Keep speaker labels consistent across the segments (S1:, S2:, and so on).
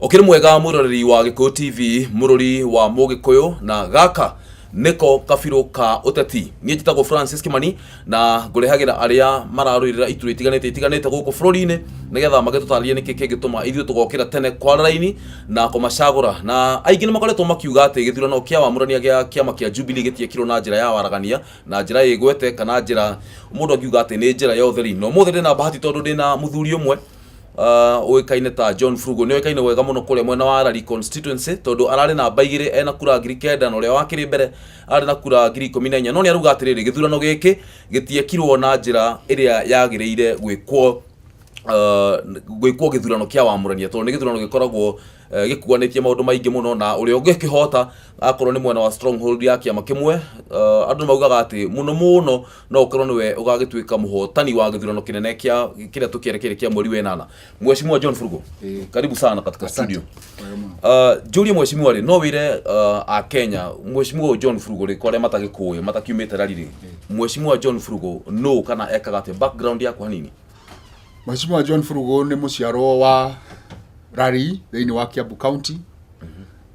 S1: Ũkĩrĩ mwega mwĩroreri wa Gĩkũyũ TV mũrũri wa Mũgĩkũyũ na gaka nĩko kabirũ ka ũteti niĩ njĩtagwo Francis Kimani na ngũrehagĩra arĩa mararũĩrĩra iturwa itiganĩte itiganĩte gũkũ bũrũri-inĩ nĩgetha magĩtũtarĩrie nĩkĩ kĩngĩtũma ithuĩ tũgokĩra tene kwa raini na kũmacagũra na aingĩ nĩ makoretwo makiuga atĩ gĩthurano kĩa wamũrania gĩa kĩama kĩa Jubilee gĩtiekirwo na njĩra ya waragania na njĩra ĩgwete kana njĩra mũndũ angiuga atĩ nĩ njĩra ya ũtheri na ũmũthĩ ndĩna bahati tondũ ndĩna mũthuri ũmwe ah, ũĩkaine ta John Frugo nĩ oĩkaine wega mũno kũrĩa mwena wa Arari constituency tondũ ararĩ namba igĩrĩ ena kura ngiri kenda na ũrĩa wakĩrĩ mbere arĩ na kura ngiri ikũmi na inya no nĩ arauga atĩrĩrĩ gĩthurano gĩkĩ gĩtiekirwo na njĩra ĩrĩa yagĩrĩire gwĩkwo ah, gwĩkwo gĩthurano kĩa wamũrania tondũ nĩ gĩthurano gĩkoragwo eh, gĩkuanĩtie maũndũ maingĩ mũno na ũrĩa ũngĩkĩhota akorwo nĩ mwena wa stronghold ya kĩama kĩmwe ah, andũ nĩ maugaga atĩ mũno mũno no ukorwo niwe ugagituika muhotani wa githurano kinene kia kiria tukierekeire kia mweri wenana mweshimua John Furugo Eh. karibu sana katika Asante. studio Wega mũno. Uh, njũrie mweshimua rĩ no wĩre uh, a kenya mweshimua ũyũ john frugo rĩ kwarĩa matagĩkũĩ matakiumĩte rari rĩ mweshimua john frugo no kana ekaga atĩa background yakwa hanini Mheshimiwa John Furugo nĩ mũciarwo wa Rari thĩinĩ wa Kiambu County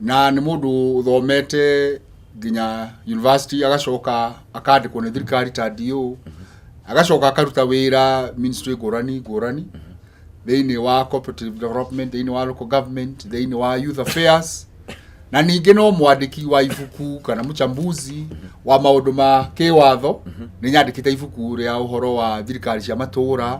S1: na nĩ mũndũ ũthomete nginya university agacoka akandĩkwo nĩ thirikari ta DO agacoka akaruta wĩra ministry ngũrani ngũrani thĩinĩ wa cooperative development thĩinĩ wa local government thĩinĩ wa youth affairs na ningĩ no mwandĩki wa ibuku kana mũchambuzi wa maũndũ ma kĩwatho nĩ nyandĩkĩte ibuku rĩa ũhoro wa thirikari cia matũũra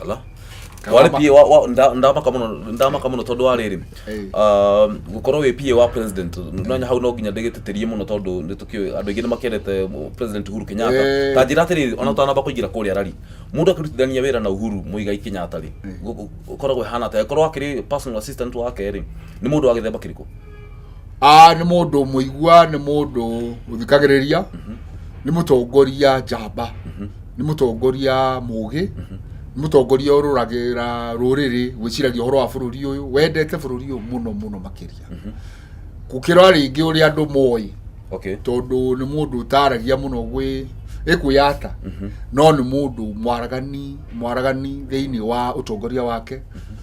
S1: Ala. wale pia wa, wa, nda- ndama kama no- ndama kama no tondu wa riri Ĩĩ. um, gukorwo wi pia wa president nanya hau no nginya ndigitirie muno tondu ni tukio andu aingi ni makendete mu- president Uhuru Kenyatta Ĩĩ. ta njira atiri ona utanamba kuingira kuria rari mundu akirutithania wira na Uhuru muigai Kenyatta ri ukoragwo hana ta korwo akiri personal assistant wake ri ni mundu wa githemba kiriko Ah, nĩ mũndũ mũigua nĩ mũndũ ũthikagĩrĩria nĩ mũtongoria njamba nĩ mũtongoria mũgĩ nĩ mũtongoria ũrũragĩra rũrĩrĩ gwĩciragia ũhoro wa bũrũri ũyũ wendete bũrũri ũyũ mũno mũno makĩria gũkĩra rĩngĩ ũrĩa andũ moĩ okay tondũ nĩ mũndũ ũtaragia mũno gwĩ ĩkwĩyata no nĩ mũndũ mwaragani mwaragani thĩinĩ wa ũtongoria wake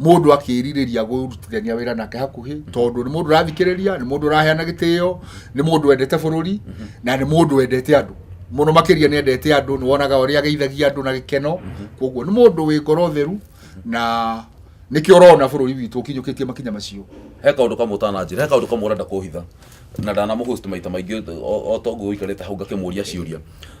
S1: mũndũ akĩrirĩria gũrutithania wĩra nake hakuhĩ tondũ nĩ mũndũ ũrathikĩrĩria nĩ mũndũ ũraheana gĩtĩo nĩ mũndũ wendete bũrũri na nĩ mũndũ wendete andũ mũno makĩria nĩ endete andũ nĩ wonaga ũrĩa ageithagia andũ na gĩkeno koguo nĩ mũndũ wĩ ngoro theru na nĩkĩo ũrona bũrũri witũ ũkinyũkĩtie makinya macio he kaundu kamwe utananjira he kaundu kamwe urenda kuhitha na ndanamũhost maita maingĩ o- o tongu uikarite hau ngakĩmũria ciũria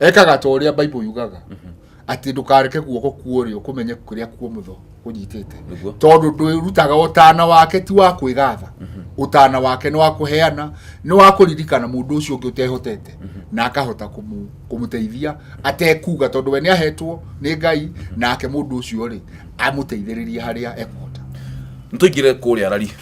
S1: ekaga ta ũrĩa baibũ yugaga mhm. atĩ ndũkareke guoko kuorĩ ũkũmenye kũrĩa kuomũtho kũnyitĩte tondũ ndwĩrutaga ũtana wake ti wa kwĩgatha mhm. ũtana wake nĩ wa kũheana nĩ wa kũririkana mũndũ ũcio ũngĩ ũtehotete mhm. na akahota kũmũteithia atekuga tondũ we nĩ ahetwo nĩ ngai nake mũndũ ũcio rĩ amũteithĩrĩrie harĩa ekũhota nĩ tũingĩre kũrĩa rari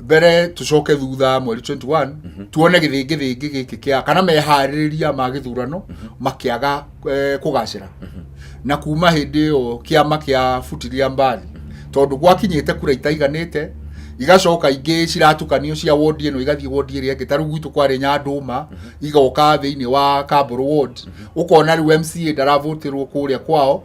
S1: mbere tucoke thutha mweri 21 tuone gĩthĩngĩthĩngĩ gĩkĩ kĩa kana meharĩrĩria ma gĩthurano makĩaga eh, kũgacĩra na kuma hĩndĩ ĩyo kĩama kĩa futiria mbathi tondũ gwakinyĩte kura itaiganĩte igacoka ingĩ ciratukanio cia wondi ĩno igathiĩ wondi ĩrĩa ĩngĩ ta rĩu gwitũ kwarĩ nyandũma igoka thĩinĩ wa kamboro ward ũkona rĩu mca ndaravũtĩrwo kũrĩa kwao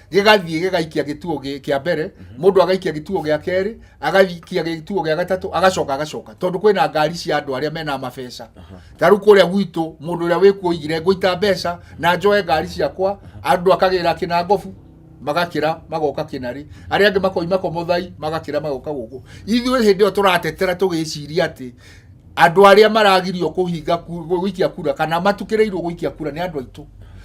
S1: gĩgathiĩ gĩgaikia gĩtuo gĩ- kĩa mbere mũndũ agaikia gĩtuo gĩa kerĩ agaikia gĩtuo gĩa gatatũ agacoka agacoka tondũ kwĩna ngari cia andũ arĩa mena mabeca ta rĩu kũrĩa gwitũ mũndũ ũrĩa wĩkuo oigire ngũita mbeca na njoe ngari ciakwa andũ akagĩra kĩna ngobu magakĩra magoka kĩnarĩ arĩa angĩ makoima komothai magakĩra magoka gũkũ ithuĩ hĩndĩ ĩyo tũratetera tũgĩciria atĩ andũ arĩa maragirio kũhinga ku- gũikia kura kana matukĩrĩirwo gũikia kura nĩ andũ aitũ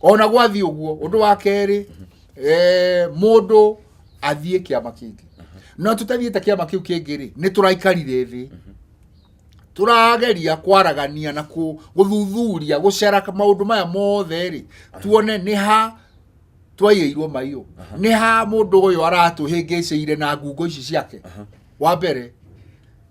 S1: ona gwathiĩ ũguo ũndũ wa kerĩ eh, mũndũ athiĩ kĩama kĩngĩ no tũtathiĩte kĩama kĩu kĩngĩ rĩ nĩ tũraikarire thĩ tũrageria kwaragania na kũ- gũthuthuria gũcera maũndũ maya mothe rĩ tuone nĩ ha twaiyĩirwo maiyũ nĩ ha mũndũ ũyũ aratũhĩngĩcĩire na ngungo ici ciake wa mbere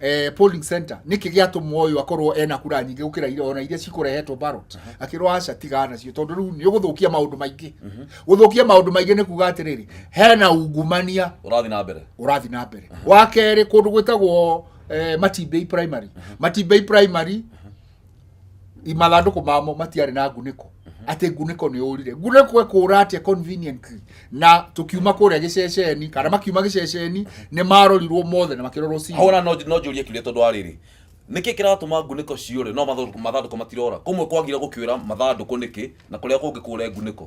S1: eh, polling center niki giatumwo uyu akorwo ena kura nyingi gukira ira ona iria cikurehetwo ballot mhm. akirwo aca tiga nacio tondu riu ni uguthukia maundu maingi mhm. guthukia maundu maingi ni kuga atiriri hena ungumania urathi na mbere urathi na mbere mhm. wa keri kundu gwitagwo eh, matimbei primary matimbei primary mathandũkũ mamo matiarĩ na ngunĩko atä ngunĩko nä å rire ngunĩko ekåra atä conveniently na tå kiuma kå rä a gä ceceni kana makiuma gä ceceni nä marorirwo mothe na makä rorwo hau na no no njũrie kiuria tondũ wa rĩrĩ nĩkĩ kĩratũma ngunĩko ciũre no mathandũ- mathandũkũ matirora kũmwe kwagire gũkĩũra mathandũkũ nĩkĩ na kũrĩa kũngĩ kũre ngunĩko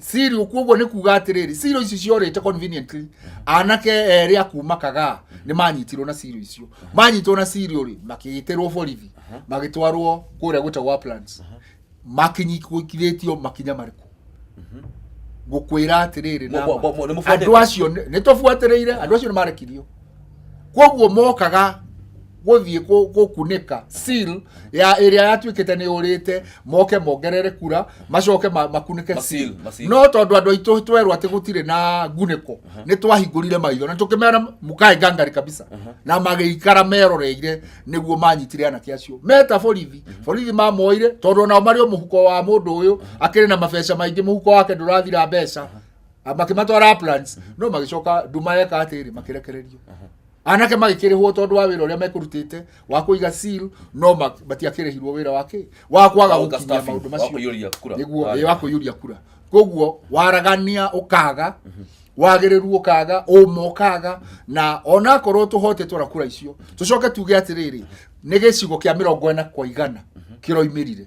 S1: siri ukuguo ni kuga atiriri siro icio ciorite conveniently anake eri akuma kaga ni manyitirwo na siro icio manyitirwo na siri uri makigitirwo borithi magitwarwo kuria gwitagwo uplands makinyikithiritio makinya mariku ngukwira atiriri Mwa- mwa- mwa- nĩmũbuatĩte? andu acio nitubuatiriire andu acio ni marekirio koguo mokaga gũthiĩ kũ- gũkunĩka seal ya ĩrĩa yatuĩkĩte nĩ ũrĩte moke mongerere kura macoke ma- makunĩke Ma seal, seal ma seal. no tondũ andũ aitũ twerwo atĩ gũtirĩ na ngunĩko nĩ twahingũrire maitho na tũkĩmera mũkae ngangari kabisa na magĩikara meroreire nĩguo manyitire anake acio meta borithi borithi mamoire tondũ onao marĩ o mũhuko wa mũndũ ũyũ akĩrĩ na mabeca maingĩ mũhuko wake ndũrathira mbeca makĩmatwara plans no magĩcoka nduma yeka atĩrĩ makĩrekererio anake magĩkĩrĩhwo tondũ wa wĩra ũrĩa mekũrutĩte wa kũiga seal no ma- matiakĩrĩhirwo wĩra wa kĩ wa kwaga Wa gũkinyia staffing, maũndũ wa macio kũiyũria kura. nĩguo Wa- ĩ, wa kũiyũria kura koguo waragania ũkaga wagĩrĩru ũkaga ũma ũkaga na onakorwo tũhotetwo na kura icio tũcoke tuge atĩrĩrĩ nĩ gĩcigo kĩa mĩrongo ĩna kwa igana kĩroimĩrire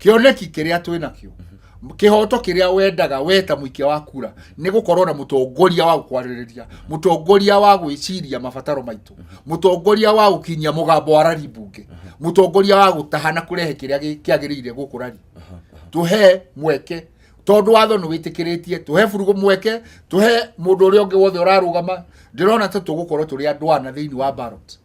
S1: kĩoneki kĩrĩa twĩ nakĩo kĩhoto kĩrĩa wendaga we ta mũikia wa kura nĩ gũkorwo na mũtongoria wa gũkwarĩrĩria mũtongoria wa gwĩciria mabataro maitũ mũtongoria wa gũkinyia mũgambo wa rari mbunge mũtongoria wa gũtaha na kũrehe kĩrĩa gĩ- kĩagĩrĩire gũkũ rari tũhe mweke tondũ watho nĩ wĩtĩkĩrĩtie tũhe burugũ mweke tũhe mũndũ ũrĩa ũngĩ wothe ũrarũgama ndĩrona ta tũgũkorwo tũrĩ andũ ana thĩinĩ wa ballot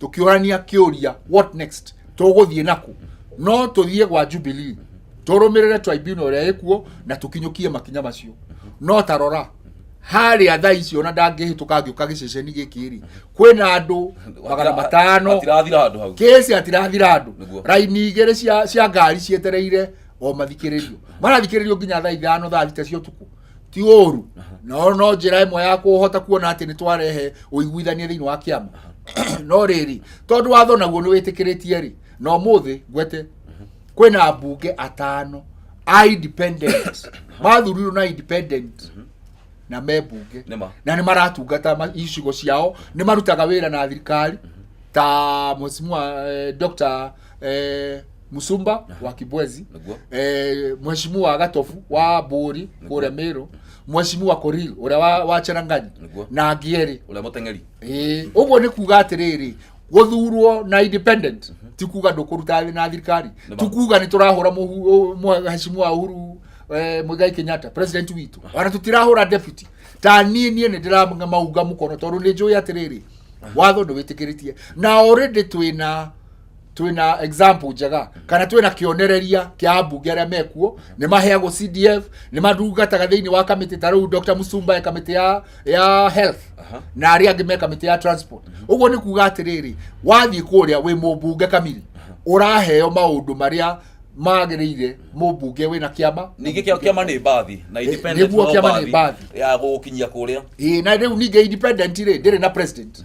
S1: tũkĩũrania kĩũria what next tũgũthiĩ naku no tũthiĩ gwa jubilee tũrũmĩrĩre tribunal ĩrĩa ĩkuo na tũkinyũkie makinya macio no tarora harĩa thaa icio na ndangĩhĩtũka ngĩũka gĩceceni gĩkĩ rĩ kwĩna andũ magana matano atirathira handå hau kesi atirathira andå Nĩguo. raini igä rä cia, cia ngari cietereire o mathikĩrĩrio marathikĩrĩrio nginya thaa ithano thaa thita cia å tukå ti ũru no no njĩra ĩmwe ya kũhota kuona atĩ nĩ twarehe ũiguithania thĩinĩ wa kĩama no rĩrĩ tondũ watho naguo nĩ wĩtĩkĩrĩtie rĩ na ũmũthĩ ngwete kwĩna mbunge atano a independent mathurirwo na independent na me mbunge Nĩma. na nĩ maratungata ma- icigo ciao nĩ marutaga wĩra na thirikari ta mheshimiwa eh, Dr eh, musumba wa kibwezi Niguo. eh, mheshimiwa gatofu wa buri kuria miru mheshimiwa koril uria wa, wa cheranganyi Niguo. na ngieri Ule muteng'eri. Eh, ũguo nĩ kuga atĩrĩrĩ gũthurwo na independent ti kuga ndũkũruta thĩ na thirikari Nĩ ti ma- kuga nĩ tũrahũra mũhu- ũ- mwe- heshimiwa uhuru eh, mũigai kenyatta president witũ ona tũtirahũra deputy ta niĩ niĩ nĩ ndĩramauga mũkono tondũ nĩ njũĩ atĩrĩrĩ watho ndũwĩtĩkĩrĩtie na already twĩna twina example njega kana twina kionereria kia ambunge aria mekuo ni maheagwo CDF ni madungataga thiini wa kamiti ta riu Dr Musumba e kamiti ya ya health na aria angi me kamiti ya transport uguo ni kuga atiriri wathii kuria wi mumbunge kamiri uraheo maundu maria magirire mumbunge wina kiama ningä kä kiama nä mbathi na independent nĩguo no kĩama nĩ mbathi. ya gå kinyia kå rä a Ĩĩ, na rĩu ningĩ independent rĩ ndĩrĩ na president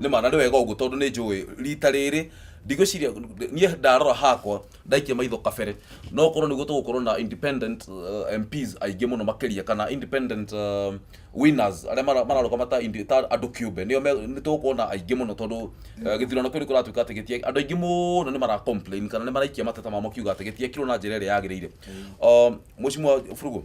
S1: nĩ ma na nĩ wega ũguo tondũ nĩ njũĩ rita rĩrĩ ndigwĩciria niĩ ndarora hakwa ndaikia maitho kabere no korwo nĩguo tũgũkorwo na independent uh, MPs aingĩ mũno makĩria kana independent uh, winners arĩa mara- mararũgama ta indi- ta andũ kĩũmbe nĩo me- nĩ tũgũkorwo na aingĩ mũno tondũ uh, gĩthurano kĩu nĩ kũratuĩka atĩ gĩtie andũ aingĩ mũno nĩ mara complain kana nĩ maraikia mateta mamo kiuga atĩ gĩtiekirwo na njĩra ĩrĩa yagĩrĩire Um, mũcimwa burugu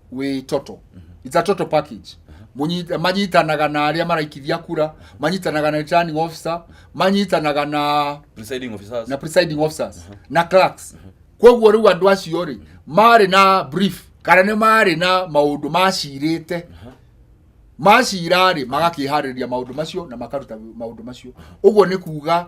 S1: wĩ toto it's a total package Mũnyita- manyitanaga na arĩa maraikithia kura manyitanaga na returning officer manyitanaga na presiding officers na presiding officers na clerks kwoguo rĩu andũ acio rĩ marĩ na brief kana nĩ marĩ na maũndũ macirĩte macira rĩ magakĩharĩria maũndũ macio na makaruta maũndũ macio ũguo nĩ kuga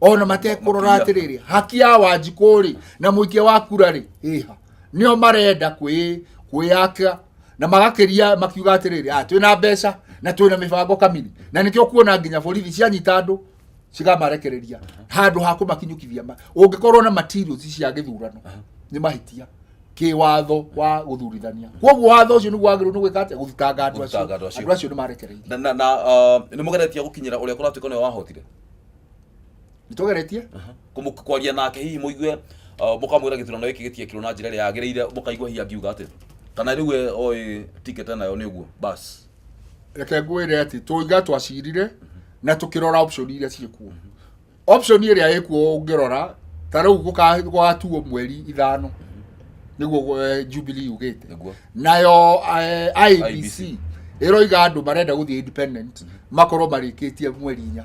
S1: ona matekũrora atĩrĩrĩ haki ya wanjikũ rĩ na mũikia wa kura rĩ ĩha nĩo marenda kwĩ- kwĩyaka na magakĩria makiuga atĩrĩrĩ "Ah, twĩna mbeca na twĩna mĩbango kamiri na nĩkĩo kuona nginya borithi cianyita andũ cigamarekereria handũ ha kũmakinyũkithia ma- ũngĩkorwo na materials cia gĩthurano nĩ mahĩtia kĩwatho wa gũthurithania kwoguo watho ũcio nĩguo wagĩrĩirwo nĩ gwĩka atĩa gũthitanga andũ acio Gũthitanga andũ acio. andũ acio nĩ marekereirio na na, na uh, nä må geretie gå kinyä ra å rä a kå ratuä ka nä wahotire nĩtũgeretie Aha. Kũmũ- kwaria nake hihi mũigue uh, mũkamwĩra gĩthurano gĩkĩ gĩtiekirwo na njĩra ĩrĩa yagĩrĩire mũkaigua hihi angiuga atĩ kana rĩu we oĩ ticket nayo nĩ ũguo bas reke ngwĩre atĩ tũiga twacirire na tũkĩrora option iria ciĩkuo option ĩrĩa ĩkuo ũngĩrora ta rĩu gũka- gũgatuo mweri ithano nĩguo eh, jubilee yugĩte nĩguo nayo eh, IBC. ibc ĩroiga andũ marenda gũthiĩ independent makorwo marĩkĩtie mweri inya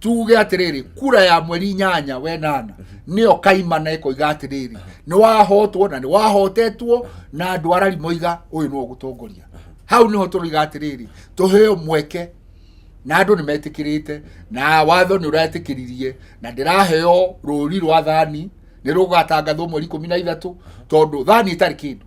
S1: tuge atiriri kura ya mweri nyanya wenana niyo kaimana ikoiga atiriri ni wahotwo na ni wahotetwo na andu arari moiga uyu no gutongoria hau niho turiga atiriri tuheo mweke na andu ni metikirite na watho ni uratikiririe na ndiraheo ruri rwa thani ni rugatangathwo mweri 13 tondu thani itari kindu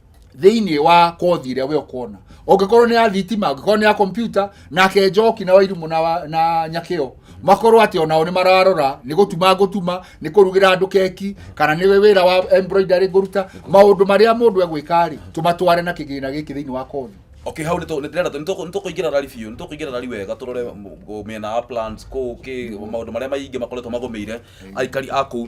S1: thĩinĩ wa kothi ĩrĩa we ũkona ũngĩkorwo nĩ ya thitima ũngĩkorwo nĩ ya kompyuta nake njoki na wairimũ na, wa- na nyakĩo makorwo atĩ onao nĩ mararora nĩ gũtuma ngũtuma nĩ kũrugĩra andũ keki kana nĩ wĩra wa embroidery ngũruta maũndũ marĩa mũndũ egwĩka rĩ tũmatware na kĩgĩna gĩkĩ thĩinĩ wa kothi okay hau nĩtũ- nĩtũrenda tũ- nĩtũ- nĩtũkũingĩra rari biũ nĩtũkũingĩra rari wega tũrore m- mĩena ya plans kũ kĩ maũndũ marĩa maingĩ makoretwo magũmĩire aikari a kũu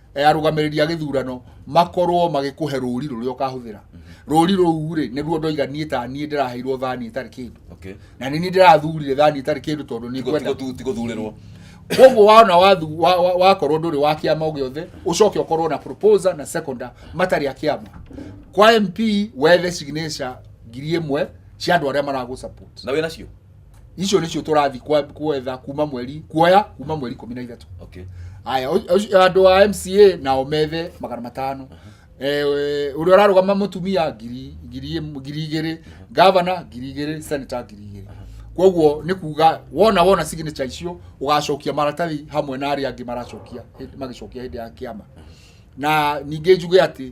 S1: eh, arũgamĩrĩri a gĩthurano makorwo magĩkũhe rũri rũrĩa ũkahũthĩra rũri rũu rĩ nĩruo ndoiga niĩ ta niĩ ndĩraheirwo thani ĩtarĩ kĩndũ okay na nĩ niĩ ndĩrathurire thani ĩtarĩ kĩndũ tondũ nĩ Tigo- ngwenda tigo tu- tigo thurĩrwo koguo wona wathu- wa- wa- wakorwo ndũrĩ wa kĩama o gĩothe ũcoke ũkorwo na proposer na seconder matarĩ a kĩama kwa mp wethe signature ngiri ĩmwe cia andũ arĩa maragũ support na wĩ nacio icio nĩcio tũrathiĩ kwa- kwetha kuma mweri kuoya kuma mweri ikũmi na ithatũ okay aya ũcio- ũcio- andũ a mca nao methe magana matano Eh, we- ũrĩa ũrarũgama mũtumia ngiri ngiri ĩm- ngiri igĩrĩ gavana ngiri igĩrĩ senata ngiri igĩrĩ koguo nĩ kuga wona wona signature icio ũgacokia maratathi hamwe na arĩa angĩ maracokia hĩndĩ- magĩcokia hĩndĩ ya kĩama na ningĩ njuge atĩ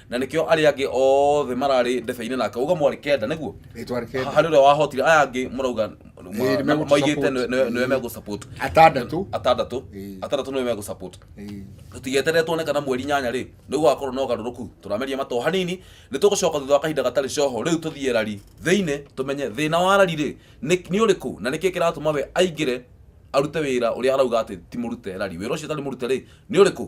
S1: na nĩkĩo arĩa angĩ othe mararĩ ndebe-inĩ nake uga mwarĩ kenda nĩguo Rĩtwa rĩ kenda. harĩ ũrĩa wahotire aya angĩ marauga Ĩĩ, nĩ megũtũ moigĩte support. nĩ- nĩ- nĩwe megũ support Atandatũ. atandatũ Ĩĩ. atandatũ nĩwe megũ support Ĩĩ. tũtigeterere tuone kana mweri nyanya rĩ nĩ gũgakorwo na ũgarũrũku tũrameria matoo hanini nĩ tũgũcoka thutha wa kahinda gatarĩ coho rĩu tũthiĩ rari thĩinĩ tũmenye thĩna wa rari rĩ nĩ nĩ ũrĩkũ na nĩkĩ kĩratũma we aingĩre arute wĩra ũrĩa arauga atĩ ti mũrute rari wĩra ũcio ũtarĩ mũrute rĩ nĩ ũrĩkũ